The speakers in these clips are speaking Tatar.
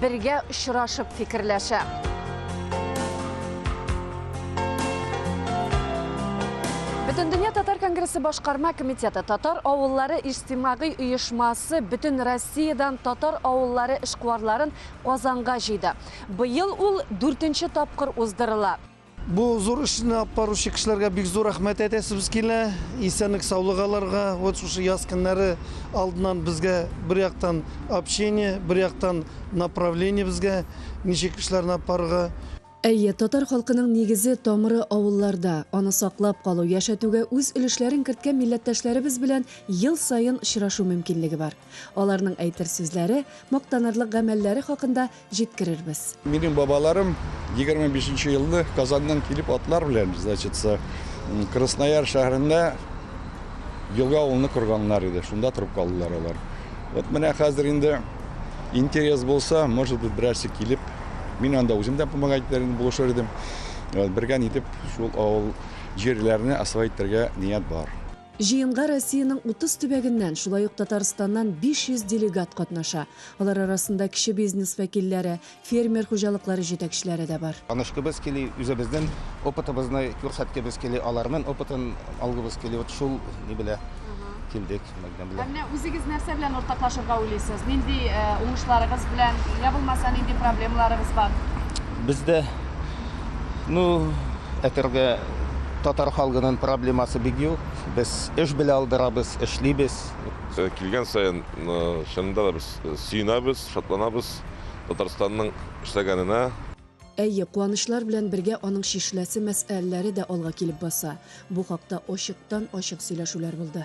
Бергә очрашып фикерләшә. Бөтендөнья татар конгрессы башкарма комитеты татар авыллары иҗтимагый оешмасы бөтен Россиядән татар авыллары эшкуарларын Казанга җыйды. Быел ул дүртенче тапкыр уздырыла. Бу зур эшне алып баручы кешеләргә бик зур рәхмәт әйтәсебез килә. Исәнлек-саулык аларга. Вот шушы яз көннәре алдыннан безгә бер яктан общение, бер яктан направление безгә, ничек кешеләрне алып барырга. Әйе, татар халкының нигезе, тамыры авылларда. Аны саклап калу, яшәтүгә үз өлешләрен керткән милләттәшләребез белән ел саен очрашу мөмкинлеге бар. Аларның әйтер сүзләре, мактанырлык гамәлләре хакында җиткерербез. Минем бабаларым егерме бишенче елны Казаннан килеп атлар белән, значится, Краснояр шәһәрендә Елга авылны корганнар иде. Шунда торып калдылар алар. Вот менә хәзер инде интерес булса, может быть, берәрсе килеп, мин анда үзем дә помогать итәр идем, булышыр идем. Бергә нитеп шул авыл җирләрне освоить итәргә ният бар. Җыенга Россиянең 30 төбәгеннән, шулай ук Татарстаннан 500 делегат катнаша. Алар арасында кече бизнес вәкилләре, фермер хуҗалыклары җитәкчеләре дә бар. Танышкыбыз кили, үзебезнен опытыбызны күрсәткебез кили, аларнын опытын алгыбыз кили, вот шул ни белә килдек Мәдинә белән. Ә менә үзегез нәрсә белән уртаклашырга уйлыйсыз? Нинди уңышларыгыз белән, я булмаса нинди проблемаларыгыз бар? Бездә, ну, әтергә. татар халгынын проблемасы бик юк. Без эш белә алдырабыз, эшлибез. Килгән саен чынында да без сөенәбез, шатланабыз Татарстанның эшләгәненә. Әйе, куанычлар белән бергә аның чишеләсе мәсьәләләре дә алга килеп баса. Бу хакта ачыктан-ачык сөйләшүләр булды.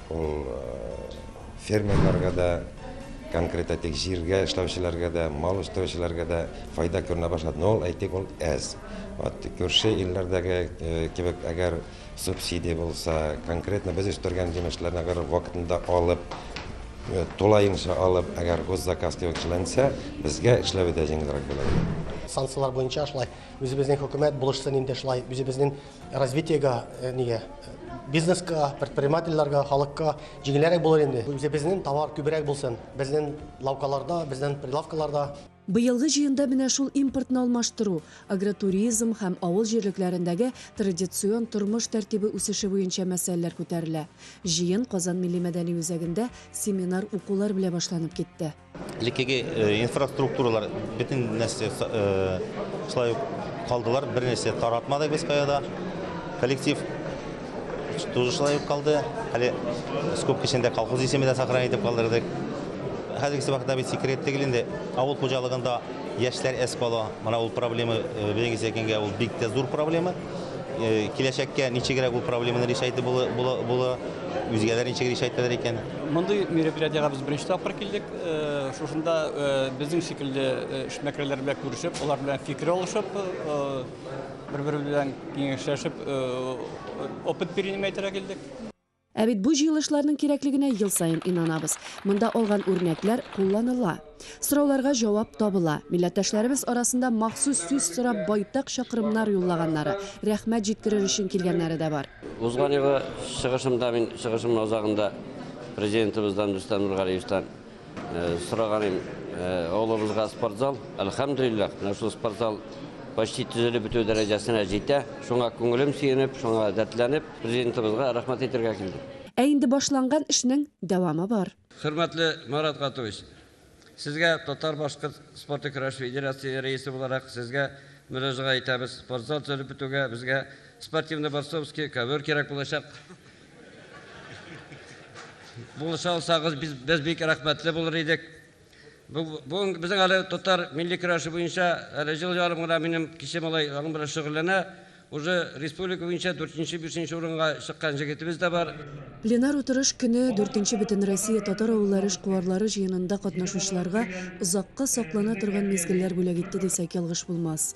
Ул фермерларга да, конкрет әйтик, җиргә эшләүчеләргә дә, мал үстерүчеләргә дә файда күренә башлады. Но ул, әйтик, ул әз. Вот күрше илләрдәге кебек, әгәр субсидия булса, конкретно без үстергән җимешләрне әгәр вакытында алып, тулаенча алып, әгәр госзаказ кебек эшләнсә, безгә эшләве дә җиңелрәк булыр иде. Санкцияләр буенча шулай үзебезнең хөкүмәт булышсын инде шулай үзебезнең Развитиега, нигә? Бизнеска, предпринимательләргә, халыкка җиңелрәк булыр инде. Үзебезнең товар күбрәк булсын, безнең лавкаларда, безнең прилавкаларда. Быелгы җыенда менә шул импортны алмаштыру, агротуризм һәм авыл җирлекләрендәге традицион тормыш тәртибе үсеше буенча мәсьәләләр күтәрелә. Җыен Казан милли-мәдәни үзәгендә семинар-укулар белә башланып китте. Элеккеге инфраструктуралар бөтен нәрсә шулай ук калдылар, бер нәрсә таратмадык без каяда. Коллектив тоже шулай ук калды. Әле скоб кешендә колхоз исеме дә сохранить итеп калдырдык. Хәзергесе вакытта бит секрет түгел инде. Авыл хуҗалыгында яшьләр әз кала. Менә ул проблема, белегез әйткәнгә, ул бик тә зур проблема. Э, киләчәккә ничегрәк бу проблеманы решайту була, үзгәләр ничек решайталар икән? Мондый мероприятиега без беренче тапкыр килдек. Э, шушында э, безнең шикелле эшмәкәрләр белән күрешеп, алар белән фикер алышып, бер-бер белән киңәшләшеп, опыт перенимәйтергә килдек. Ә бит бу җыелышларның кирәклегенә ел саен инанабыз. Монда алган үрнәкләр кулланыла. Сорауларга җавап табыла. Милләттәшләребез арасында махсус сүз сорап байтак чакрымнар юллаганнары, рәхмәт җиткерер өчен килгәннәре дә бар. Узган елгы чыгышымда мин чыгышымның азагында Президентыбыздан Рөстәм Нургалиевтан Сораганым, авылыбызга спортзал, әлхәмдүлилләһ, менә шул спортзал почти төзелеп бетү дәрәҗәсенә җитә. Шуңа күңелем сөенеп, шуңа дәртләнеп, Президентыбызга рәхмәт әйтергә килдем. Ә инде башланган эшнең дәвамы бар. Хөрмәтле Марат Гатович, Сезгә, Татар-башкорт спорты көрәше федерацие рәисе буларак, Сезгә мөрәҗәгать итәбез. Спортзал төзелеп бетүгә, безгә спортивный борцовский ковер кирәк булачак. Булыша алсагыз, без, без бик рәхмәтле булыр идек. Бүген безнең әле татар милли көрәше буенча әле җыл ярым гына минем кече малай аның белән шөгыльләнә. Уже республика буенча 4-5 урынга чыккан җегетебез дә бар. Пленар утырыш көне дүртенче Бөтенроссия татар авыллары эшкуарлары җыенында катнашучыларга озакка саклана торган мизгелләр бүләк итте дисәк ялгыш булмас.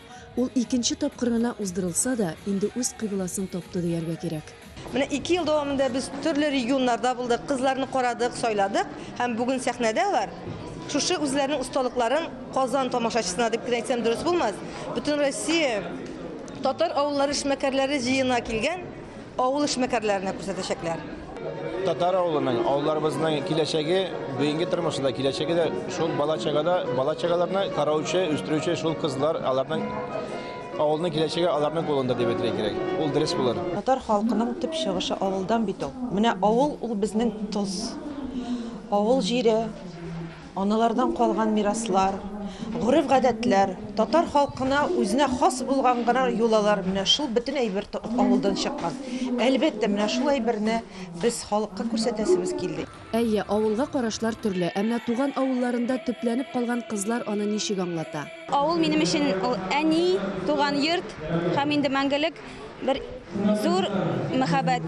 Ул икенче тапкыр гына уздырылса да, инде үз кыйбласын тапты дияргә кирәк. Менә ике ел дәвамында без төрле регионнарда булдык, кызларны карадык, сайладык һәм бүген сәхнәдә алар шушы үзләренең осталыкларын Казан тамашачысына дип кенә әйтсәм дөрес булмас, Бөтенроссия татар авыллары эшмәкәрләре җыеына килгән Авыл эшмәкәрләренә күрсәтәчәкләр. Татар авылының, авылларыбызның киләчәге, бүгенге тормышы да, киләчәге дә шул бала-чагада, бала-чагаларны караучы, үстерүче шул кызлар, аларның авылның киләчәге аларның кулында дип әйтергә кирәк. Ул дөрес булыр. Татар халкының төп чыгышы авылдан бит ул. Менә авыл ул безнең тоз. Авыл җире, Аналардан калган мираслар, гореф-гадәтләр, татар халкына үзенә хас булган гына йолалар, менә шул бөтен әйбер авылдан чыккан. Әлбәттә, менә шул әйберне без халыкка күрсәтәсебез килде. Әйе, авылга карашлар төрле, әмма туган авылларында төпләнеп калган кызлар аны ничек аңлата? Авыл минем өчен ул әни, туган йорт һәм инде мәңгелек бер зур мәхәббәт.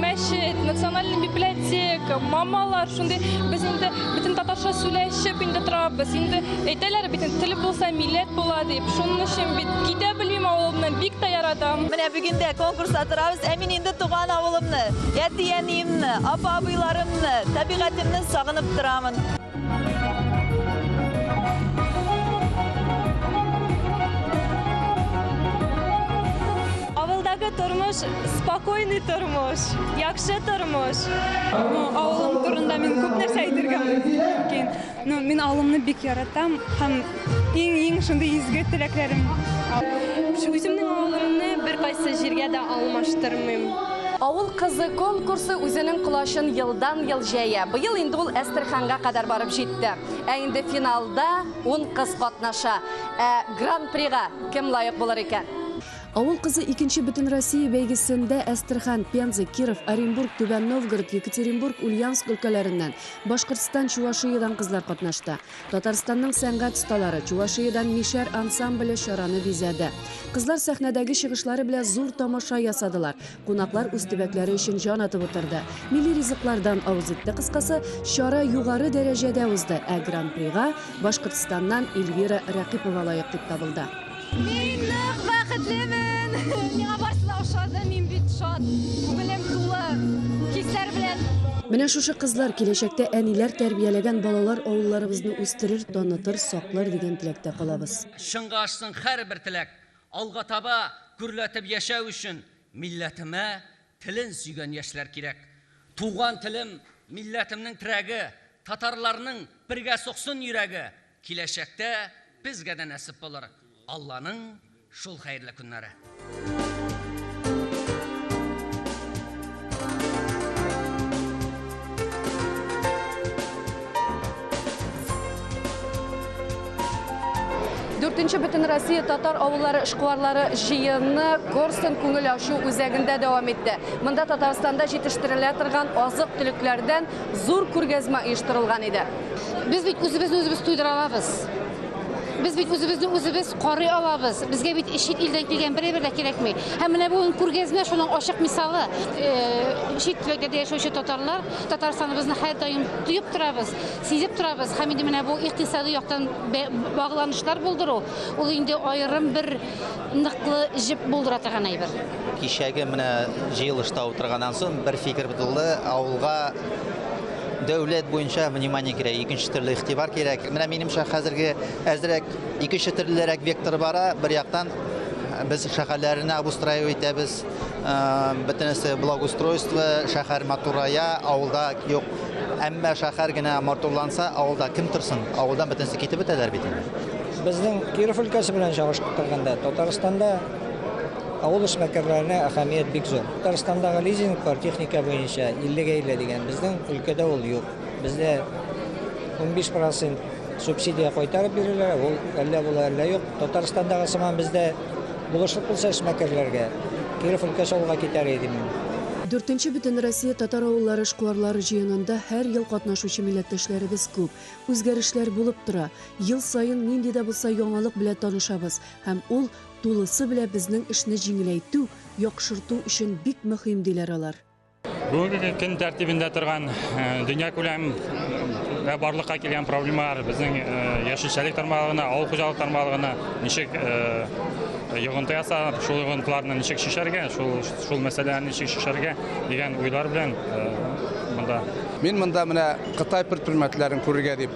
Мәчет, национальный библиотека, мамалар, шундый без инде бөтен татарча сүләшеп инде торабыз. Инде әйтәләр бит, тел булса, милләт була дип. Шуның өчен бит китә белмим авылымнан, бик тә яратам. Менә бүген дә конкурста торабыз, ә мин инде туган авылымны, әти-әниемне, апа-абыйларымны, табигатемне сагынып торамын. Авылдагы тормыш, спокойный тормыш, яхшы тормыш. Авылым турында мин күп нәрсә әйтергә мөмкин. Ну, мин авылымны бик яратам һәм Иң-иң шундый изге теләкләрем. Үземнең авылымны беркайсы җиргә дә алмаштырмыйм. Авыл кызы конкурсы үзенең колачын елдан-ел җәя. Быел инде ул Әстерханга кадәр барып җитте. Ә инде финалда ун кыз катнаша. Ә Гран-прига кем лаек булыр икән? Авыл кызы икенче Бөтенроссия бәйгесендә Әстерхан, Пенза, Киров, Оренбург, Түбән Новгород, Екатеринбург, Ульяновск өлкәләреннән, Башкортстан, Чувашиядән кызлар катнашты. Татарстанның сәнгать осталары, Чувашиядән Мишәр ансамбле чараны бизәде. Кызлар сәхнәдәге чыгышлары белән зур тамаша ясадылар. Кунаклар үз төбәкләре өчен җан атып утырды. Милли ризыклардан авыз итте кыскасы, чара югары дәрәҗәдә узды, ә Гран-прига Башкортстаннан Эльвира Рәкыйпова лаек дип табылды. Мин нык бәхетлемен! Миңа барысы да ошады, мин бит шат, күңелем тулы хисләр белән. Менә шушы кызлар киләчәктә әниләр тәрбияләгән балалар авылларыбызны үстерер, танытыр, саклар дигән теләктә калабыз. Чынга ашсын һәрбер теләк. Алга таба гөрләтеп яшәү өчен милләтемә телен сөйгән яшьләр кирәк. Туган телем, милләтемнең терәге, Татарларның бергә суксын йөрәге, Киләчәктә безгә дә нәсеп булыр Алланың шул хәерле көннәре. Дүртенче Бөтенроссия татар авыллары эшкуарлары җыены Корстон күңел ачу үзәгендә дәвам итте. Монда Татарстанда җитештерелә торган азык-төлекләрдән зур күргәзмә оештырылган иде. Без бит үзебезне үзебез туйдыра алабыз. Без бит үзебезне үзебез карый алабыз. Безгә бит чит илдән килгән берәй бер дә кирәкми. Һәм менә бүген күргәзмә шуның ачык мисалы. Э, чит төбәкләрдә яшәүче татарлар Татарстаныбызны һәрдаим тоеп торабыз, сизеп торабыз. Һәм инде менә бу икътисади яктан багланышлар булдыру, ул инде аерым бер ныклы җеп булдыра торган әйбер. Кичәге менә җыелышта утырганнан соң бер фикер булды, авылга Дәүләт буенча внимание кирәк, икенче төрле игътибар кирәк. Менә минемчә хәзерге әзрәк икенче төрлерәк вектор бара. Бер яктан без шәһәрләрне обустраивать итәбез. Бөтенесе благоустройство, шәһәр матурая, авылда юк. Әмма шәһәр генә матурланса, авылда кем торсын? Авылдан бөтенесе китеп бетәләр бит инде. Безнең Киров өлкәсе белән чагыштырганда, Татарстанда Авыл эшмәкәрләренә әһәмият бик зур. Татарстандагы лизинглар техника буенча 50 гә 50 дигән, безнең өлкәдә ул юк. Бездә унбиш процент субсидия кайтарып бирелә, ул әллә була, әллә юк. Татарстандагы сыман бездә булышлык булса эшмәкәрләргә, Киров өлкәсе алга китәр иде мин. Дүртенче Бөтенроссия татар авыллары эшкуарлары җыенында һәр ел катнашучы милләттәшләребез күп. Үзгәрешләр булып тора. Ел саен нинди дә булса яңалык белән танышабыз һәм ул, Тулысы белә безнең эшне җиңеләйтү, яхшырту өчен бик мөһим, диләр алар. Бүгенге көн тәртибендә торган э, дөнья күләм э, барлыкка килгән проблемалар безнең э, яшелчәлек тармагына, авыл хуҗалык тармагына ничек йогынты ясап, шул йогынтыларны ничек шешәргә, шул шул мәсьәләне ничек шешәргә дигән уйлар белән монда. Мин монда менә Кытай предпринимательләрен күрергә дип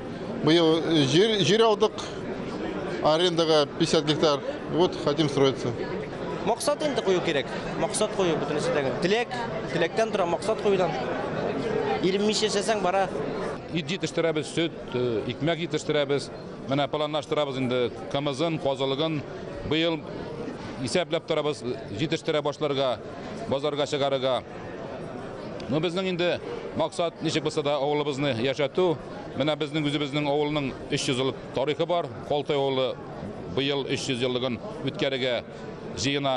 Быел җир, җир алдык, арендага 50 гектар, вот хотим строиться. Максат инде кую кирәк, максат кую бөтенесе дә. Теләк, теләктән тора, максат куюдан. Иренмичә эшләсәң бара. Ит җитештерәбез, сөт, э, икмәк җитештерәбез. Менә планлаштырабыз инде кымызын, козылыгын. Быел исәпләп торабыз җитештерә башларга, базарга чыгарырга. Ну, безнең инде максат ничек булса да авылыбызны яшәтү. Менә безнең үзебезнең авылның 300 еллык тарихы бар. Колтай авылы быел 300 еллыгын үткәрергә җыена.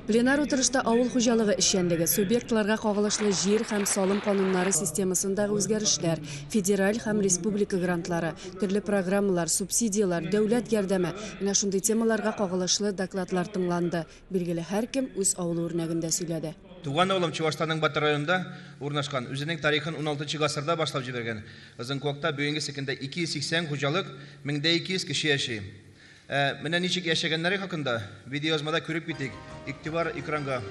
Пленар утырышта авыл хуҗалыгы эшчәнлеге, субъектларга кагылышлы җир һәм салым кануннары системасындагы үзгәрешләр, федераль һәм республика грантлары, төрле программалар, субсидияләр, дәүләт ярдәме, менә шундый темаларга кагылышлы докладлар тыңланды. Билгеле, һәркем үз авылы үрнәгендә сөйләде. Туган авылым Чуашстанның Батыр районында урнашкан. Үзенең тарихын уналтынчы гасырда башлап җибәргән. Озынкуакта бүгенге секендә 280 хуҗалык, мең дә 200 кеше яши. Ә менә ничек яшәгәннәре хакында видеоязмада күреп китик. Игътибар экранга.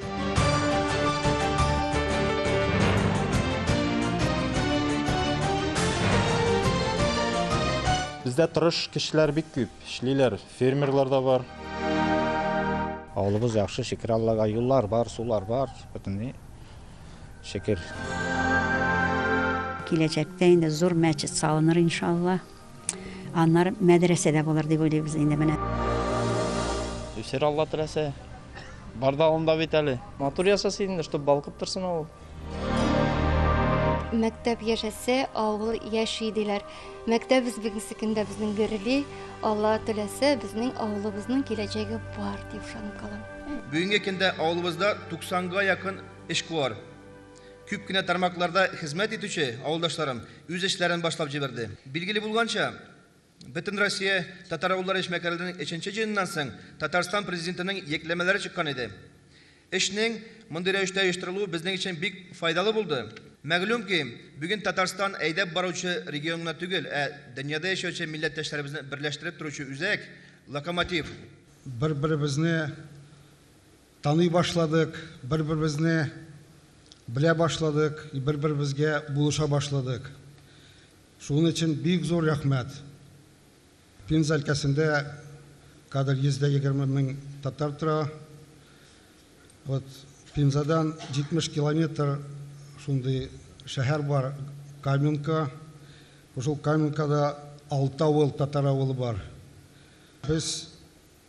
Бездә тырыш кешеләр бик күп. Эшлиләр, фермерлар да бар. Авылыбыз яхшы, шөкер Аллага, юллар бар, сулар бар, бөтенләй шөкер. Киләчәктә инде зур мәчет салыныр, иншалла. Аннары мәдрәсә дә булыр дип уйлыйбыз инде менә. Үсер Алла теләсә. Бар да алында бит әле. Матур яса син, чтоб балкып торсын авыл. Мәктәп яшәсе, авыл яши диләр. Мәктәп безнекесекендә безнең гөрли, Алла теләсә, безнең авылыбызның киләчәге бар дип ышанып калам. Бүгенге көндә авылыбызда 90 га якын эшкуар. Күп кенә тармакларда хезмәт итүче авылдашларым үз эшләрен башлап җибәрде. Билгеле булганча, Бөтенроссия татар-авыллары эшмәкәрләренең өченче җыеныннан соң Татарстан Президентының йөкләмәләре чыккан иде. Эшнең мондый рәвештә оештырылуы безнең өчен бик файдалы булды. Мәгълүм ки, бүген Татарстан әйдәп баручы регион гына түгел, ә дөньяда яшәүче милләттәшләребезне берләштереп торучы үзәк, локомотив. Бер-беребезне таный башладык, бер-беребезне белә башладык, бер-беребезгә булыша башладык. Шуның өчен бик зур рәхмәт! Пенза өлкәсендә кадәр 120 мең татар тора. Вот Пензадан 70 километр шундый шәһәр бар Каменка. Шул Каменкада алты авыл татар авылы бар. Без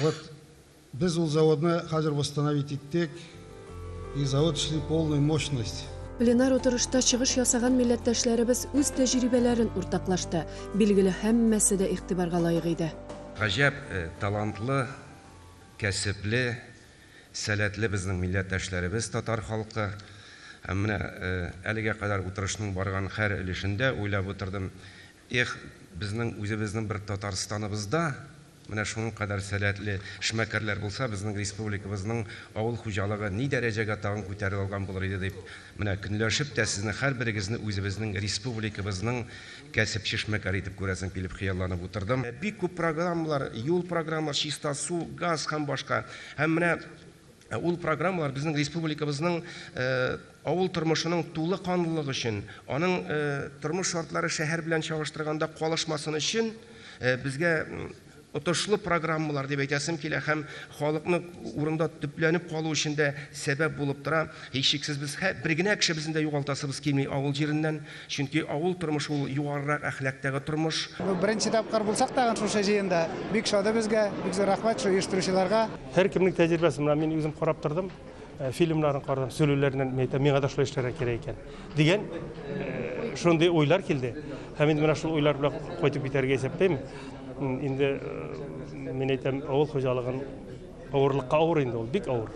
Вот без ул заводны хәзер восстановить иттек и завод эшли полной мощность. Пленар утырышта чыгыш ясаган милләттәшләребез үз тәҗрибәләрен уртаклашты. Билгеле, һәммәсе дә игътибарга лаек иде. Гаҗәп талантлы, кәсепле, сәләтле безнең милләттәшләребез татар халкы. Һәм менә әлегә кадәр утырышның барган һәр өлешендә уйлап утырдым, Эх, безнең үзебезнең бер Татарстаныбызда менә шуның кадәр сәләтле эшмәкәрләр булса, безнең республикабызның авыл хуҗалыгы ни дәрәҗәгә тагын күтәрелә алган булыр иде дип, менә көнләшеп тә сезне һәрберегезне үзебезнең республикабызның кәсепче-эшмәкәре итеп күрәсем килеп хыялланып утырдым. Бик күп программалар, юл программалар, чиста су, газ һәм башка. Һәм менә. Ә ул программалар безнең республикабызның авыл тормышының тулы канлылык өчен, аның тормыш шартлары шәһәр белән чагыштырганда калышмасын өчен безгә отышлы программалар дип әйтәсем килә һәм халыкны урында төпләнеп калу өчен дә сәбәп булып тора. Һичшиксез без бер генә кешебезне дә югалтасыбыз килми авыл җиреннән. Чөнки авыл тормышы ул югарырак әхлактагы тормыш. Бу беренче тапкыр булсак тагын шушы җыенда. Бик шады безгә. Бик зур рәхмәт шу оештыручыларга. Һәркемнең тәҗрибәсе, менә мин үзем карап тордым, фильмнарын карадым, сөйлүләреннән мин әйтәм, миңа да шулай эшләргә кирәк икән, дигән шундый уйлар килде. Һәм инде менә шул уйлар белән кайтып китәргә исәплим. Инде мин әйтәм, авыл хуҗалыгын авырлыкка авыр инде ул, бик авыр.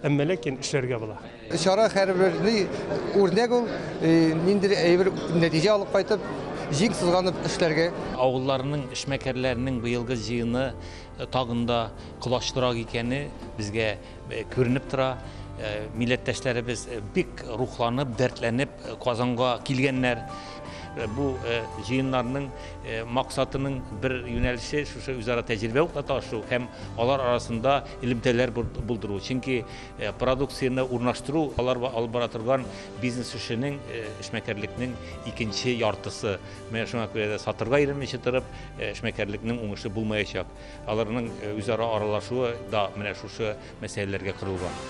Әмма ләкин эшләргә була. Чара һәрберли үрнәк ул, ниндидер әйбер нәтиҗә алып кайтып, җиң сызганып эшләргә. Авылларның эшмәкәрләренең быелгы җыены тагын да колачлырак икәне безгә күренеп тора. Милләттәшләребез бик рухланып, дәртләнеп Казанга килгәннәр. Бу җыеннарның максатының бер юнәлеше шушы үзара тәҗрибә уртаклашу һәм алар арасында элемтәләр булдыру, чөнки продукцияне урнаштыру алар алып бара торган бизнес эшенең, эшмәкәрлекнең икенче яртысы. Менә шуңа күрә дә сатырга өйрәнмичә торып, эшмәкәрлекнең уңышы булмаячак. Аларның үзара аралашуы да менә шушы мәсьәләләргә корылган.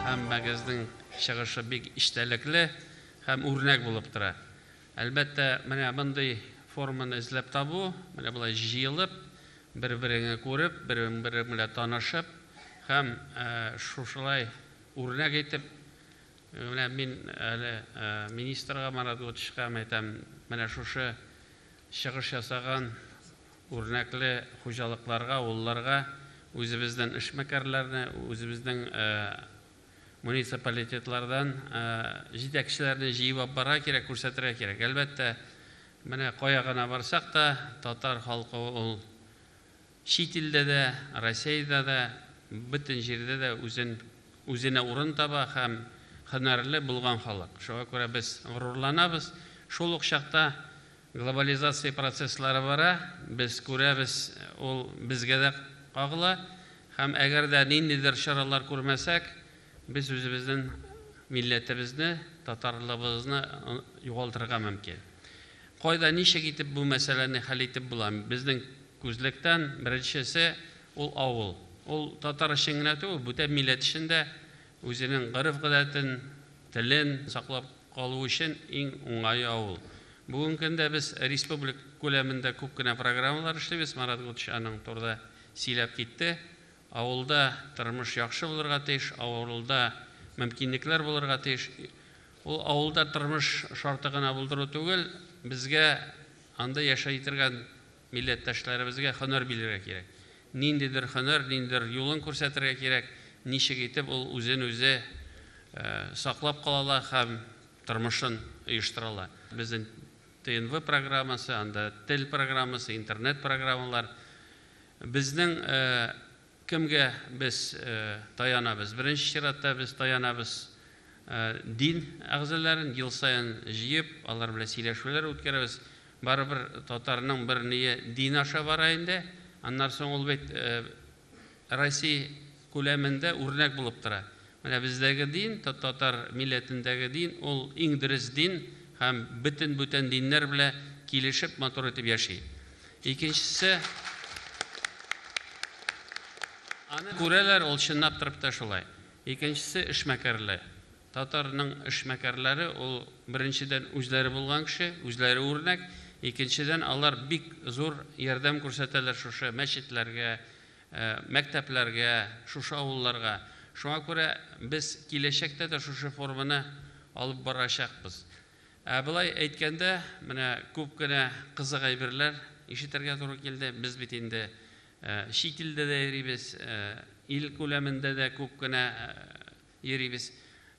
Һәммәгезнең чыгышы бик эчтәлекле һәм үрнәк булып тора. Әлбәттә, менә мондый форманы эзләп табу, менә болай җыелып, бер-береңе күреп, берең-берең белән танышып һәм шушылай үрнәк итеп, менә мин әле министрга Марат Готичка әйтәм, менә шушы чыгыш ясаган, Үрнәкле хуҗалыкларга, авылларга үзебездән эшмәкәрләрне, үзебезнең муниципалитетлардан җитәкчеләрне җыеп алып барырга кирәк, күрсәтергә кирәк. Әлбәттә, менә кая гына барсак та, татар халкы ул чит илдә дә, Россиядә дә, бөтен җирдә дә үзен, үзенә урын таба һәм һөнәрле булган халык. Шуңа күрә без горурланабыз. Шул ук чакта Глобализация процесслары бара, без күрәбез, ул безгә дә кагыла. Һәм әгәр дә ниндидер чаралар күрмәсәк, без үзебезнен милләтебезне, татарлыгыбызны югалтырга мөмкин. Кайда, ничек итеп бу мәсьәләне хәл итеп була? Безнең күзлектән беренчесе, ул авыл. Ул татар өчен генә түгел, бүтән милләт өчен дә Үзенең гореф-гадәтен, телен саклап калу өчен иң уңае авыл. Бүгенге көндә без республика күләмендә күп кенә программалар эшлибез, Марат Гутыч аның турыда сөйләп китте. Авылда тормыш яхшы булырга тиеш, авылда мөмкинлекләр булырга тиеш. Ул авылда тормыш шарты гына булдыру түгел, безгә анда яшәй торган Милләттәшләребезгә һөнәр бирергә кирәк. Ниндидер һөнәр, ниндидер юлын күрсәтергә кирәк, ничек итеп ул үзен үзе саклап кала ала һәм тормышын оештыра ала. Безнең ТНВ программасы, анда тел программасы, интернет программалар. Безнең Кемгә без таянабыз? Беренче чиратта без таянабыз дин әгъзаларын ел саен җыеп, алар белән сөйләшүләр үткәрәбез. Барыбер татарның бер ние дин аша бара инде. Аннары соң ул бит Россия күләмендә үрнәк булып тора. Менә бездәге дин, татар милләтендәге дин, ул иң дөрес дин һәм бөтен бүтән диннәр белә килешеп, матур итеп яши. Икенчесе, аны күрәләр, ул чынлап торып та шулай. Икенчесе, эшмәкәрле. Татарның эшмәкәрләре, ул беренчедән үзләре булган кеше, үзләре үрнәк, икенчедән алар бик зур ярдәм күрсәтәләр шушы мәчетләргә, мәктәпләргә, шушы авылларга. Шуңа күрә без киләчәктә дә шушы форманы алып барачакбыз. Ә болай әйткәндә, менә күп кенә кызык әйберләр ишетергә туры килде. Без бит инде чит илдә дә йөрибез, ил күләмендә дә күп кенә йөрибез.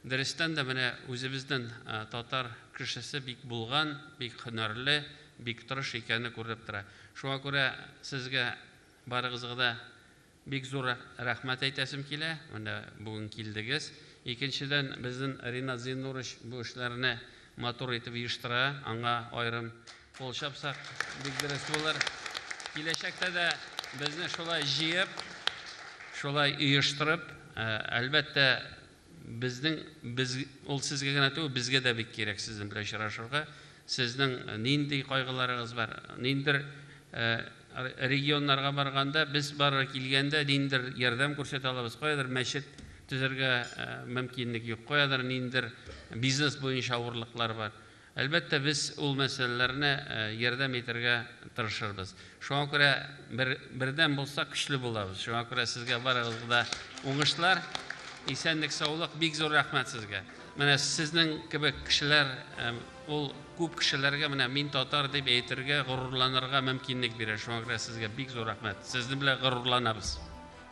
Дөрестән дә, менә үзебезнен татар кешесе бик булган, бик һөнәрле, бик тырыш икәне күренеп тора. Шуңа күрә сезгә Барыгызга да бик зур рәхмәт әйтәсем килә, менә бүген килдегез. Икенчедән, безнен Ринат Зиннурыч бу эшләрне матур итеп оештыра, аңа аерым кул чапсак, бик дөрес булыр. Киләчәктә дә безне шулай җыеп, шулай оештырып, әлбәттә, Безнең, без, ул сезгә генә түгел, безгә дә бик кирәк сезнең белән очрашырга. Сезнең нинди кайгыларыгыз бар? Ниндидер регионнарга барганда, без барырга килгәндә, ниндидер ярдәм күрсәтә алабыз. Каядыр мәчет төзергә мөмкинлек юк, каядыр ниндидер бизнес буенча авырлыклар бар. Әлбәттә, без ул мәсьәләләрне ярдәм итәргә тырышырбыз. Шуңа күрә бер бердәм булсак, көчле булабыз. Шуңа күрә сезгә барыгызга да уңышлар, исәнлек-саулык, бик зур рәхмәт сезгә. Менә сезнең кебек кешеләр ул күп кешеләргә менә мин татар дип әйтергә, горурланырга мөмкинлек бирә. Шуңа күрә сезгә бик зур рәхмәт. Сезнең белән горурланабыз.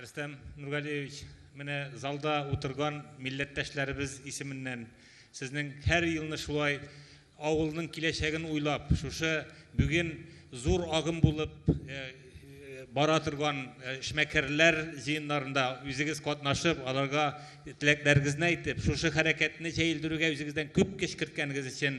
Рөстәм Нургалиевич, менә залда утырган милләттәшләребез исеменнән сезнең һәр елны шулай авылның киләчәген уйлап, шушы бүген зур агым булып бара торган эшмәкәрләр җыеннарында үзегез катнашып, аларга теләкләрегезне әйтеп, шушы хәрәкәтне җәелдерүгә үзегездән күп көч керткәнегез өчен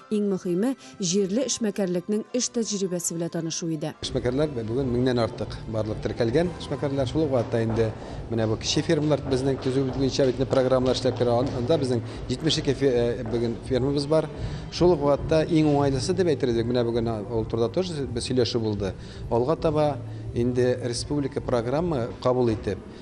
Иң мөхиме, җирле эшмәкәрлекнең эш тәҗрибәсе белә танышу иде. Эшмәкәрләр бүген меңнән артык барлык теркәлгән эшмәкәрләр. Шул ук вакытта инде менә бу кече фермалар безнең төзү буенча бит программалар эшләп керә. Анда безнең 72 бүген фермабыз бар. Шул ук вакытта иң уңайлысы дип әйтербез бит, менә бүген ул турыда тоже сөйләшү булды. Алга таба инде республика программа кабул итеп,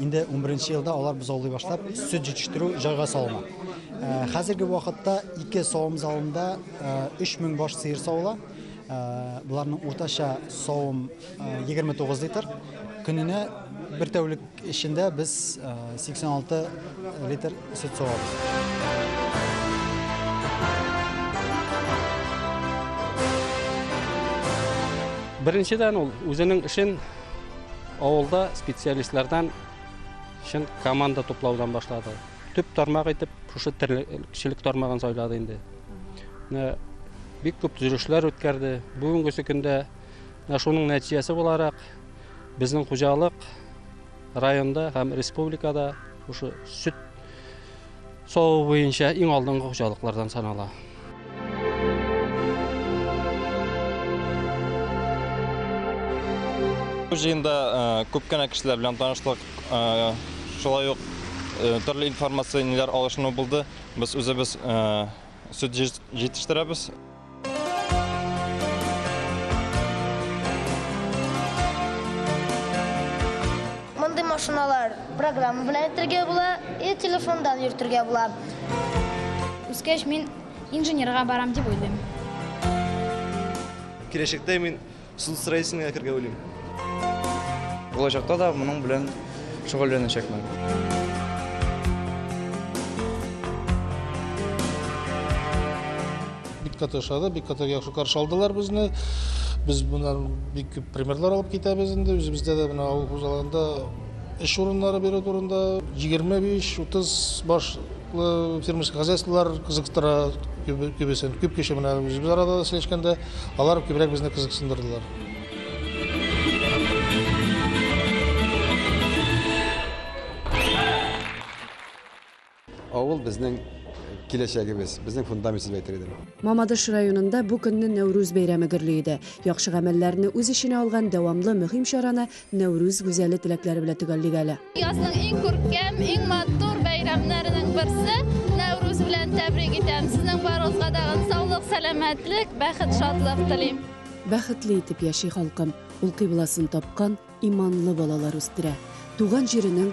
Инде унберенче елда алар бозаулый башлап, сөт җитештерү җайга салына. Хәзерге вакытта ике савым залында 3000 баш сыер савыла. Боларның уртача савым 29 литр. Көненә бер тәүлек эчендә без 86 литр сөт савабыз. Беренчедән ул үзенең эшен Авылда специалистлардан чын команда туплаудан башлады. Төп тармак итеп шушы терлекчелек тармагын сайлады инде. Бик күп төзелешләр үткәрде. Бүгенгесе көндә шуның нәтиҗәсе буларак безнең хуҗалык районда һәм республикада шушы сөт Саву буенча иң алдынгы хуҗалыклардан санала. Бу җыенда күп кенә кешеләр белән танышлык, шулай ук төрле информацияләр алышыну булды. Без үзебез сөт җитештерәбез. Мондый машиналар программа белән итергә була, и телефондан йөртергә була. Үскәч мин инженерга барам дип уйлыйм. Киләчәктә мин Суд строительный әкергә уйлыйм. Булачакта да моның белән шөгыльләнәчәкмен. Бик каты ошады, бик каты яхшы каршы алдылар безне. Без моннан бик күп примерлар алып китәбез инде. Үзебездә дә менә авыл хуҗалыгында эш урыннары бирү турында 25-30 баш фермерский хозяйстволар кызыктыра күбесен. Күп кеше менә үзебез арада сөйләшкәндә Алар күбрәк безне кызыксындырдылар. Авыл безнең киләчәгебез, безнең фундаментыбыз дип әйтер идем. Мамадыш районында бу көнне Нәүрүз бәйрәме гөрли иде. Яхшы гамәлләрне үз эченә алган дәвамлы мөһим чараны Нәүрүз гүзәле теләкләре белән төгәллик әле. Язның иң күркәм, иң матур бәйрәмнәренең берсе Нәүрүз белән тәбрик итәм. Сезнең барыгызга да саулык, сәламәтлек, бәхет, шатлык телим. Бәхетле итеп яши халкым, ул кыйбласын тапкан иманлы балалар үстерә. Туган җиренең